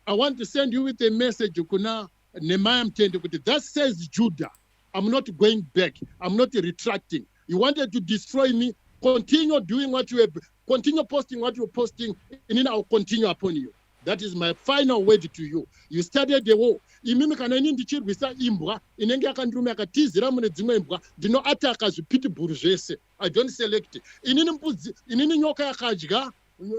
I want to send you with a message kuna Nehemiah Mtende kuti that says Judah. I'm not going back. I'm not retracting. You wanted to destroy me. Continue doing what you have, continue posting what you're posting, and then I'll continue upon you. That is my final word to you. You started the war. Imimi kana ini ndichirwisa imbwa inenge yakandirume yakatizira mune dzimwe imbwa ndinoataka zvipitibhuru zvese. I don't select. Inini mbudzi, inini nyoka yakadya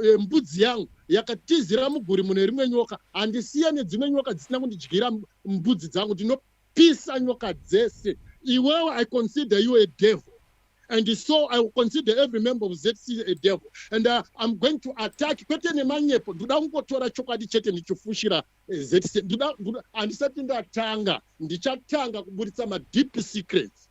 Eh, mbudzi yangu yakatizira muguri mune rimwe nyoka handisiya nedzimwe nyoka dzisina kundidyira mbudzi dzangu ndinopisa nyoka dzese iwewe i consider you a devil and so i will consider every member of zc a devil and uh, i'm going to attack kwete nemanyepo ndinoda kungotora chokwadi chete ndichifushira eh, zc handisati ndatanga ndichatanga kuburitsa madeep secrets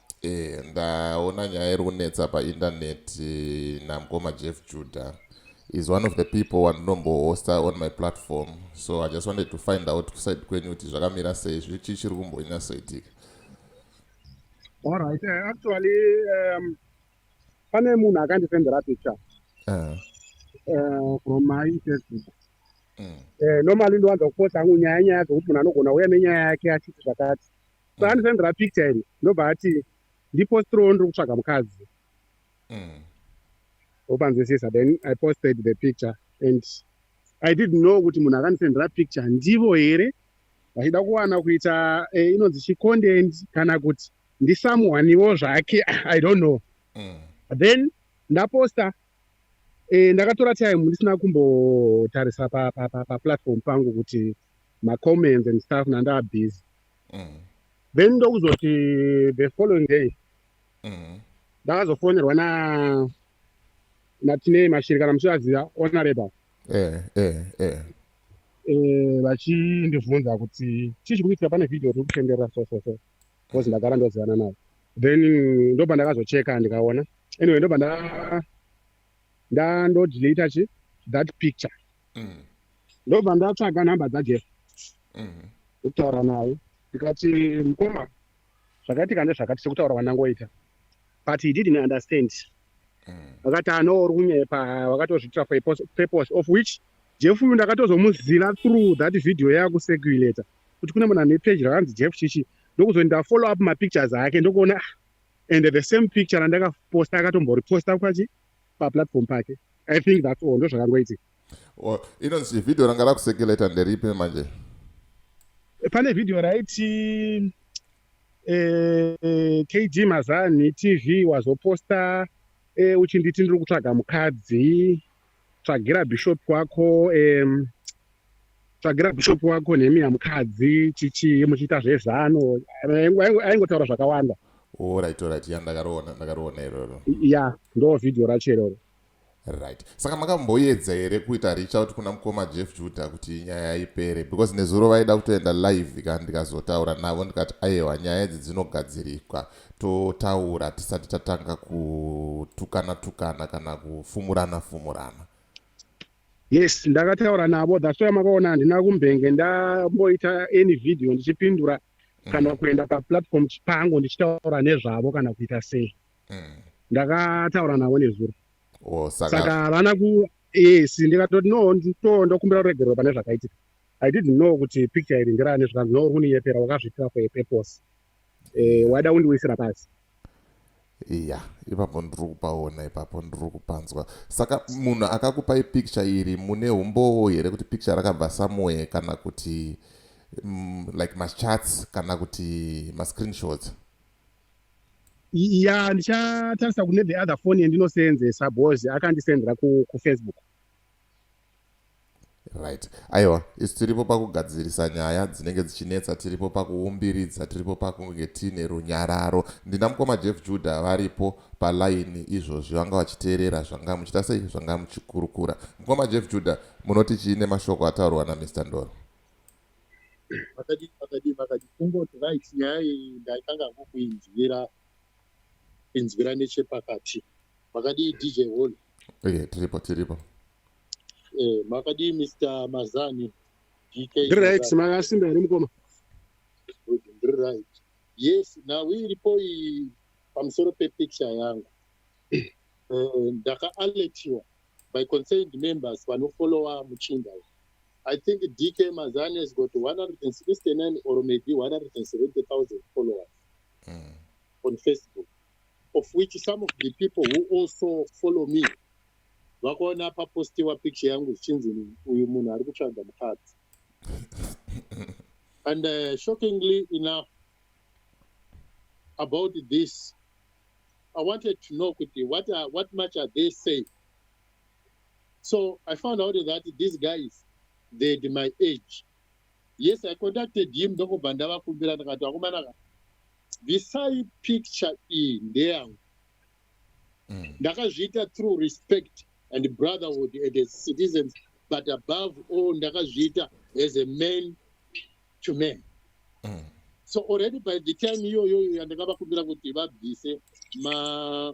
Eh, ndaona nyaya iri kunetsa painternet eh, namkoma jeff judah is one of the people wandinombohosta on my platform so i just wanted to find out kuside kwenyu kuti zvakamira sei zvichi chiri kumbonyatsoitika allright eh, actually um, pane munhu akandisendera picture uh. Uh, from my facebook mm. uh, normally ndowanza kuposta hangu nyaya nyaya dzokuti munhu anogona uya nenyaya yake achiti zvakati so mm. andisendera picture iri ndobva ati ndipostirowo ndiri kutsvaga mukadzi mm. opanzwisisa then i posted the picture and i did know kuti munhu akandisendera picture ndivo here vachida kuwana kuita eh, inonzi chicontent kana kuti ndisamuwaniwo zvake i don't know mm. then ndaposta Eh, ndakatora time ndisina kumbotarisa paplatform pangu kuti macomments and stuff nandaa busy mm. then ndokuzoti the following day mm. ndakazofonerwa na natinei mashiri kana muchivaziva onareba eh, eh, eh. vachindibvunza kuti chii chikuitika pane video tiri kutenderera so so so because ndagara ndozivana navo then ndopa ndakazocheka ndikaona anyway ndopa ndandodilita chi that picture mm. ndobva ndatsvaga nhamba dzajeff mm. ndokutaura naye ndikati mukoma zvakaitika ndezvakati sekutaura kwandangoita but he didn't understand mm. akati ano uri kunyepa wakatozviitira for purpose of which jeff uyu ndakatozomuziva through that video yakusekuleta mm. kuti kune munhu ane page rakanzi jeff chichi ndokuzoti ndafollow up mapictures ake ndokuona ah, and the same picture randakaposta akatomboreposta kwachi paplatform pake i think that's all ndozvakangoitika oh, inonzi vhidhiyo ranga rakusekeleta nderipi manje pane vhidhiyo raiti eh, kd mazani tv wazoposta eh, uchinditi ndiri kutsvaga mukadzi tsvagira bishop wako um, tsvagira bishop wako nemi yamukadzi chichii muchiita zvezano aingotaura zvakawanda orit orit ya ndakaroona ndakaroona iroro ya ndo vhidhiyo racho iroro right saka makamboyedza here kuita reach out kuna mukoma jeff juda kuti nyaya ipere because nezuro vaida kutoenda live ka ndikazotaura navo ndikati aiwa nyaya idzi dzinogadzirikwa totaura tisati tatanga kutukana tukana kana kufumurana fumurana yes ndakataura navo that's why makaona handina kumbenge ndamboita any video ndichipindura mm. kana kuenda paplatform chipango ndichitaura nezvavo kana kuita sei mm. ndakataura navo nezuro oh, saka vana ku yes ndikatoti no to ndokumbira ruregerero pane zvakaitika i didn't know kuti picture iri ndirane zvikanzi no uri kuniyepera wakazviitira for a purpose eh, wada undiwisira pasi iya ipapo ndiri kupaona ipapo ndiri kupanzwa saka munhu akakupai picture iri mune umbowo here kuti picture rakabva somewhere kana kuti mm, like machats kana kuti mascreenshots ya ndichatarisa kune the other phone yandinoseenzesa bcause akandisendera kufacebook ku Right. Aiwa, isu tiripo pakugadzirisa nyaya dzinenge dzichinetsa, tiripo pakuumbiridza, tiripo pakunge tiine runyararo. Ndina mukoma Jeff Judah varipo palaini izvozvi vanga vachiteerera zvanga muchita sei zvanga muchikurukura. Mukoma Jeff Judah, munoti chii nemashoko ataurwa naMr Ndoro? Makadii, makadii, makadii. Kungoti right nyaya iyi ndaitanga ngokuinzwira inzwira nechepakati. Makadii DJ Holy? okay tiripo tiripo eh makadii mr mazani dk ndiri right makasimba here mukoma ndiri right yes nhau iripo iyi pamusoro pepicture yangu eh, ndakaaletiwa by concerned members vanofollowa muchinda uyu I think DK Mazani has got 169 or maybe 170,000 followers mm. on Facebook. of which some of the people who also follow me vakaona papostiwa picture yangu zvichinzi uyu munhu ari kutsvaga mukadzi and uh, shockingly enough about this i wanted to know kuti what, are, what much are they saying so i found out that these guys they had my age yes i contacted him ndokubva ndavakumbira ndikati vakomana ka bvisai picture iyi ndeyangu mm. ndakazviita through respect and brotherhood and as citizens but above all ndakazviita as a man to man mm. so already by the time iyoyoyo yandakavakumbira kuti vabvise ma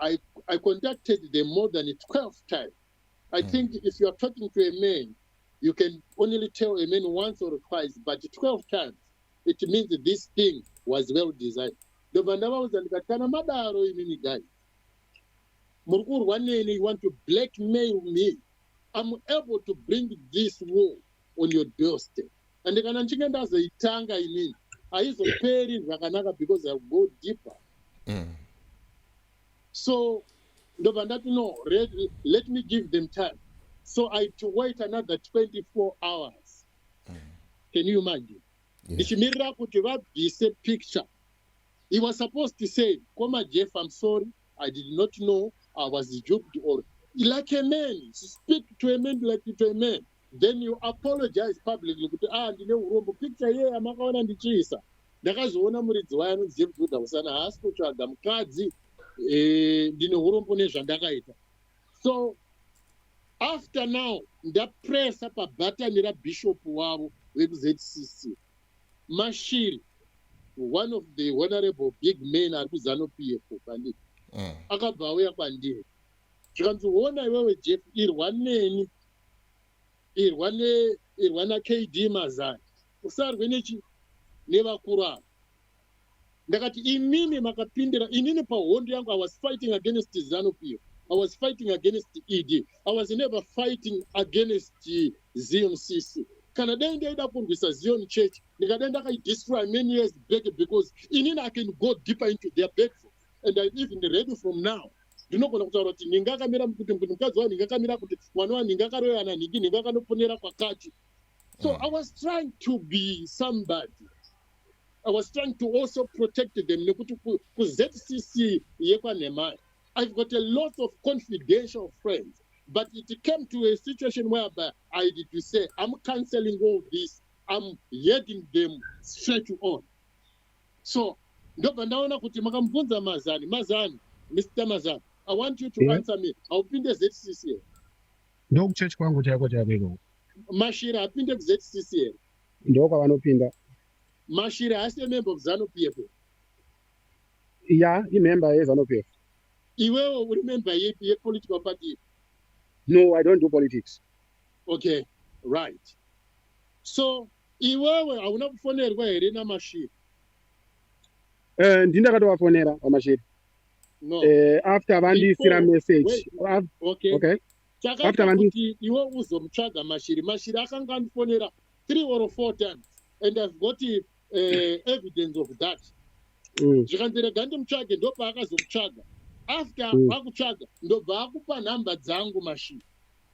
I, I contacted them more than 12 times. I mm. think if you are talking to a man, you can only tell a man once or twice, but 12 times, it means this thing was well designed. ndobva ndavaudza ndikati kana madaro imini guys muri kurwa neni you want to blackmail me i'm able to bring this war on your doorstep and kana ndichinge ndazoitanga inini haizoperi zvakanaka because i go deeper mm. so ndobva ndati no let, let me give them time so i to wait another 24 hours mm. can you imagine ndichimirira yeah. kuti vabvise picture he was supposed to say koma jeff i'm sorry i did not know i was juped or like a man speak to a man like to a man then you apologize publicly kuti a ah, ndine urombo picture iye yamakaona ndichiisa ndakazoona muridzi wayo anonzi james woda kusana haasi kutsvaga mukadzi eh, ndine urombo nezvandakaita so after now ndapresa pabhatani rabishop wavo vekuzcc mashiri one of the honorable big man ari kuzanopf kwandiri mm. akabva auya kwandiri zvikanzi hona iwewe jeff irwa neni irwa ne irwa nakd mazani usarwe nechi nevakuru ava ndakati imimi makapindira inini pahondo yangu i was fighting against zanup iyo i was fighting against ed i was never fighting against zion cc kana dai ndaida kurwisa zion church ndikadai ndakaidestroy many years back because inini i can go deeper into their bedroom and im even ready from now ndinogona kutaura kuti nhinga akamira kuti kuti mukadzi wa nhinga akamira kuti mwana wa nhinga akaroyana nhingi nhinga akanoponera kwakati so mm. i was trying to be somebody i was trying to also protect them nekuti kuzcc yekwanhemai i've got a lot of confidential friends but it came to a situation whereby i did to say i'm cancelling all this i'm heading them straight on so ndobva ndaona kuti makamubvunza mazani mazani mr mazani i want you to yeah. answer me haupinde zcc here ndokuchechi kwangu chaiko chaiko mashiri hapinde kuzcc here ndokwavanopinda mashiri haasi emembe of zanu p f ya imembe yezanu p f iwewo uri membe yepi yepolitical party no i don't do politics okay right so iwewe hauna kufonerwa here namashiri uh, ndini ndakatovafonera vamashiri no. uh, after vandiisira message okay, okay. chakaita kuti iwe uzomutsvaga mashiri mashiri akanga andifonera three or four times and i've got uh, evidence of that mm. zvikanzi rega ndimutsvage ndopaakazomutsvaga after mm. akutsvaga ndobva akupa nhamba dzangu mashiri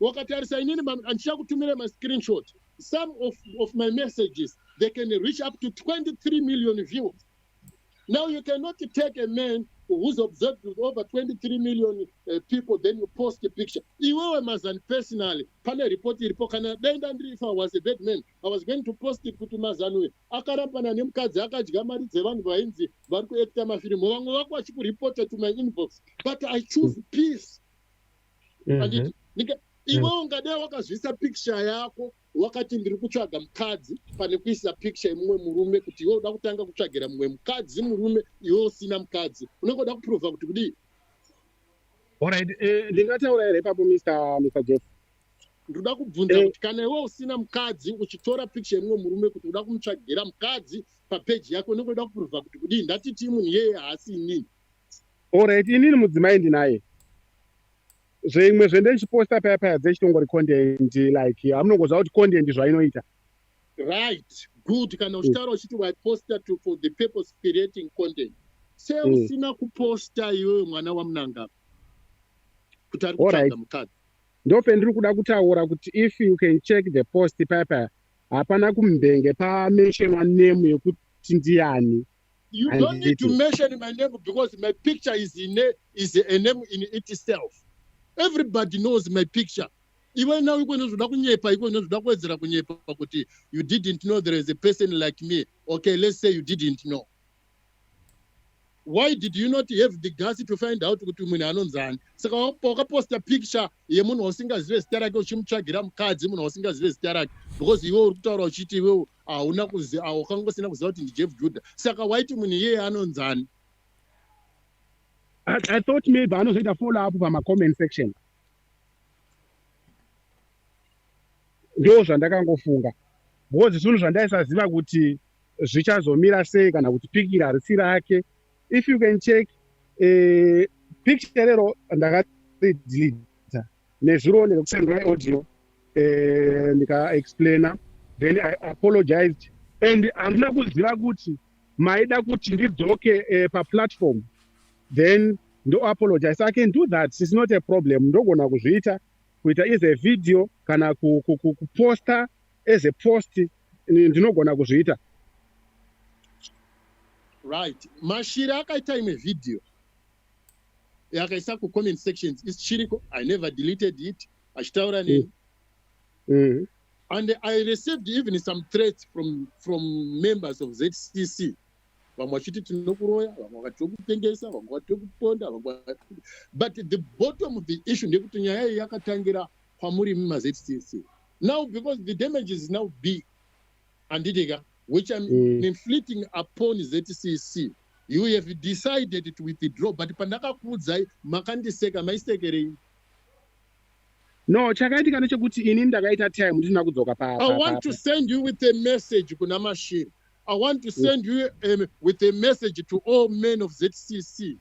wakatarisa inini andichakutumira mascreenshot some of, of my messages they can reach up to 23 million views now you cannot take a man who's observed with over 23 million uh, people then you post a picture iwewe mazan personally pane report iripo kana dai ndandiri if i was a bad man i was going to post it kuti mazan uyu akarambana nemukadzi akadya mari dzevanhu vainzi vari kuekta mafirimu vamwe vako vachikuripota to my inbox but i choose peace anditi ndika iwe ungade wakazviisa picture yako wakati ndiri kutsvaga mukadzi pane kuisa picture yemumwe murume kuti iwe uda kutanga kutsvagira mumwe mukadzi murume iwe usina mukadzi unenge uda kuprova kuti kudii Alright, eh, ndingataura here ipapo Mr. Mr. Jeff? ndoda kubvunza Eh. kuti kana iwe usina mukadzi uchitora picture yemumwe murume kuti uda kumutsvagira mukadzi papeji yako unenge uda kuprova kuti kudii ndatiti munhu iyeye haasi inini Alright, inini mudzimai ndinaye zvimwe zvende ndichiposta paya paya dzechitongori content like amunongoziva kuti content zvainoita right good kana uchitaura mm. uchiti waiposta to for the purpose creating content se mm. usina kuposta iwewe mwana wamunangapa kuti ari kutsvaga mukadzi ndopendiri kuda kutaura kuti if you can check the post paya paya hapana kumbenge pamentionwa nemu yekuti ndiani You Handiti. don't need to mention my name because my picture is in a, is a name in itself. Everybody knows my picture. Iwe now iko inozoda kunyepa iko inozoda kuwedzera kunyepa kuti you didn't know there is a person like me. Okay, let's say you didn't know. Why did you not have the guts to find out kuti munhu anonzani? Saka wakaposta picture yemunhu wausingazive zita rake uchimutsvagira mukadzi munhu wausingazive zita rake because iwe uri kutaura uchiti iwe hauna wakangosina kuziva kuti ndijeff juda saka waiti munhu iyeye anonzani i thought maybe anozoita follow up pamacomment section ndo zvandakangofunga because zvinhu zvandaisaziva kuti zvichazomira sei kana kuti pikira harisi rake if you can check eh, picture rero ndakaridelita nezuro ndekusendwa audio eh, ndikaexplaina then i apologized and handina kuziva kuti maida kuti ndidzoke eh, paplatform then ndoapologize i can do that its not a problem ndogona kuzviita kuita is a video kana kuposta as a post Ini ndinogona kuzviita. Right. Mashiri akaita imwe video yakaisa kucomment sections isichiriko i never deleted it achitaura neni mm. mm. and i received even some threats from, from members of zcc vamwe vachiti tinokuroya vamwe vakati tokutengesa vamwe vati tokuponda vamwe but the bottom of the issue ndekuti nyaya iyi yakatangira kwamuri mumazcc now because the damage is now big handiti ka which im mm. inflicting upon zcc you have decided to withdraw but pandakakuudzai makandiseka maisekerei no chakaitika nechekuti ini ndakaita time ndisina kudzoka pa i want to send you with a message kuna mashiri i want to mm. send you um, with a message to all men of zcc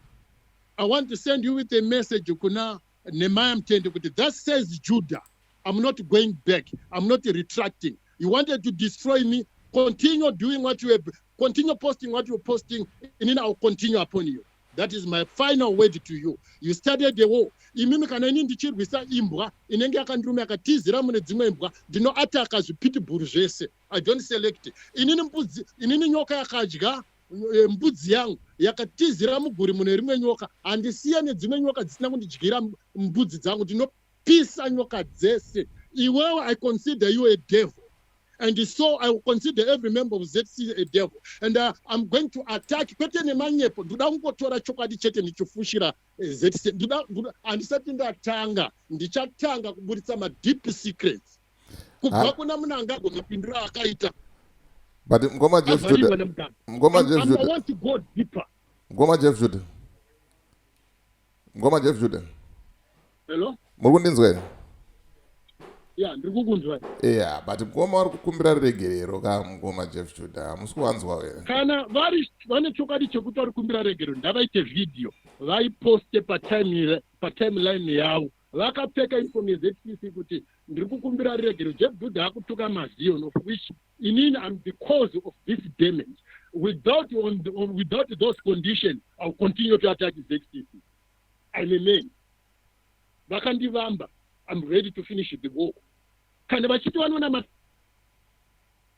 i want to send you with a message kuna Nehemiah Mtende kuti thus says Judah I'm not going back I'm not retracting you wanted to destroy me continue doing what you have continue posting what you're posting and then I'll continue upon you that is my final word to you you started the war imimi kana ini ndichirwisa imbwa inenge yakandirume yakatizira mune dzimwe imbwa ndinoataka zvipitibhuru zvese i don't select inini mbudzi inini nyoka yakadya Eh, mbudzi yangu yakatizira muguri mune rimwe nyoka handisiya nedzimwe nyoka dzisina kundidyira mbudzi dzangu ndinopisa nyoka dzese iwewe i consider you a devil and so i will consider every member of zc a devil and uh, i'm going to attack kwete nemanyepo ndoda kungotora chokwadi chete ndichifushira eh, zc handisati ndatanga ndichatanga kuburitsa madeep secrets kubva kuna munangagwa mapindiro akaita but mkoma jeff jude mkoma jeff jude want to go deeper mkoma jeff jude mkoma jeff jude hello muri kundinzwa here ya ndiri kukunzwa ya but mkoma wari kukumbira regerero ka mkoma jeff jude hamusi kuvanzwa here kana vari vane chokwadi chekuti vari kukumbira regerero ndavaite vhidhiyo vaiposte patimeline yavo vakapfeka uniform yeZCC kuti ndiri kukumbira ruregero Jeff Dude akutuka mazion of which inini I'm the cause of this damage without on, the, on without those conditions I will continue to attack ZCC I'm a man vakandivamba I'm ready to finish the work kana vachiti vanoona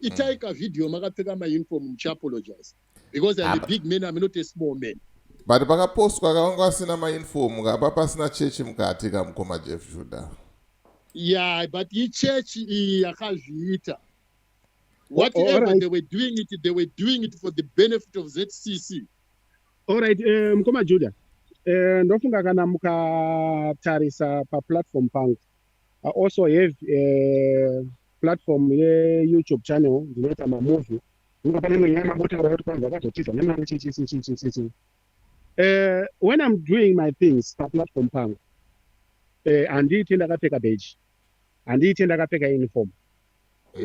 itai mm. kavideo makapfeka mauniform muchiapologize because I'm a big man I'm not a small man but pakapostwa kavanga vasina mauniform kapa pasina chechi mukati kamukoma jeff juda yeah but ichechi iyi yakazviita whatever right. they were doing it they were doing it for the benefit of zcc allright eh, mukoma juda eh, ndofunga kana mukatarisa paplatform pangu I also have a eh, platform yeyoutube channel ndinoita mamovie inga pane imwe nyaya mabotaura kuti kwanzi akazotiza nemari chichichichichichi uh, eh, when i'm doing my things paplatform pangu eh, handiite uh, ndakapfeka beji handiite ndakapfeka uniform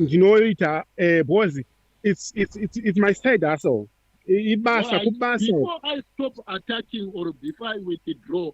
ndinoita uh, because it's, it's, it's, it's my side hustle ibasa kubasa before i stop attacking or before i withdraw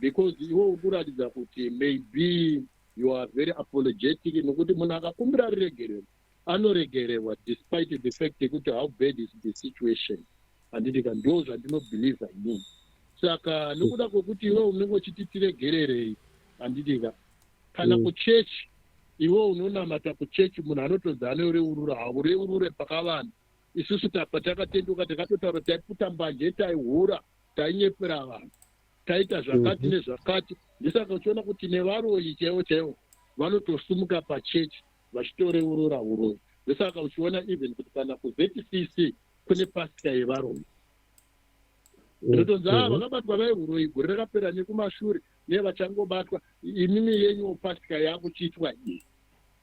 because iwe uri kuratidza kuti maybe you are very apologetic nokuti munhu akakumbira ruregerero anoregererwa despite the fact yekuti how bad is the situation handiti ka ndo zvandinobhilivha ini saka nokuda kwekuti iwe unenge uchiti tiregererei handiti ka kana mm. kuchechi iwe unonamata kuchechi munhu anotodza anoreurura haureurure pakavanhu isusu tapa takatenduka takatotaura taiputa mbanje taihura tainyepera vanhu taita zvakati mhm. nezvakati ndisaka uchiona kuti nevaroyi chaivo chaivo vanotosumuka pachechi vachitoreurura uroyi ndosaka uchiona even kuti kana kuzcc kune pasika yevaroyi ndotonzi a mhm. vakabatwa vaiuroyi gore rakapera nekumashure nevachangobatwa imimi yenyu pasika yakuchiitwa iyi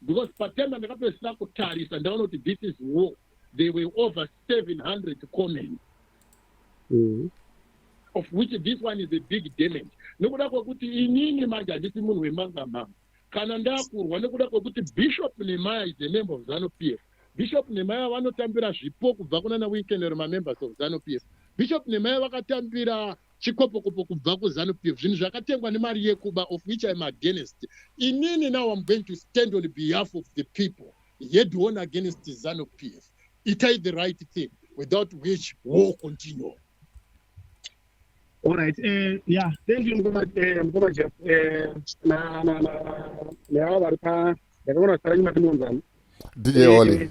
because patema ndakapedzisira kutarisa ndaona kuti this is war they were over 700 comen mm. of which this one is a big damage nekuda kwekuti inini manje handisi munhu wemangamama kana ndakurwa nekuda kwekuti bishop nemaya is a member of zanu p f bishop nemaya vanotambira zvipo kubva kunana weekend remamembers of zanu p f bishop nemaya vakatambira chikopokopo kubva kuzanu pf zvinhu zvakatengwa nemari yekuba of which im against inini now im going to stand on behalf of the people head on against zanu pf itai the right thing without which war continue Alright, uh, eh, yeah, thank you mkoma eh, mkoma Jeff. Eh, na na na na hawa vari pa ndakaona kuti paranyi mati munzani. DJ Oli. Eh,